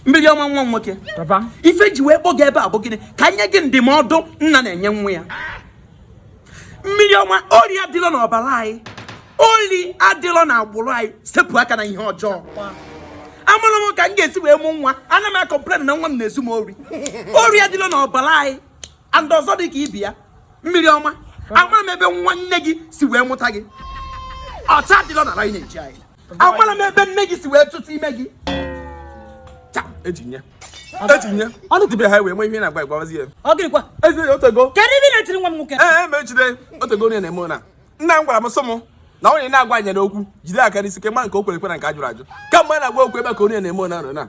mmiri ọma nwa nwoke ife ji wee kpọ gị ebe a bụ gịnị ka m nye gị ndụmọdụ nna na-enye nwa ya mmiri ọma ori adịlọ n'ọbara anyị ori adịlọ na agbụrụ anyị sepụ aka na ihe ọjọọ amarọ m ka m ga-esi wee mụ nwa ana m akọmplen na nwa m na-ezu m ori ori adịlọ n'ọbara anyị and ọzọ dị ka ibe ya mmiri ọma amara m ebe nwa nne gị si wee mụta gị ọcha adịlọ na anyị na-eji anyị amara m ebe nne gị si wee tụta ime gị eji nye eji nye ọnụ dibịa ha wee nwe ihe na-agba igbawazi ya ọ gịrịkwa ezi otego kedu ebe ị na-etiri nwa m nwoke ee ma ejide otego onye na-eme na nna m gwara m sị m na onye na-agwa anya n'okwu jide aka n'isi kwe ma nke o kwere ekwe na nke a jụrụ ajụ ka mgbe na-agwa okwu ebe ka onye na-eme na nọ na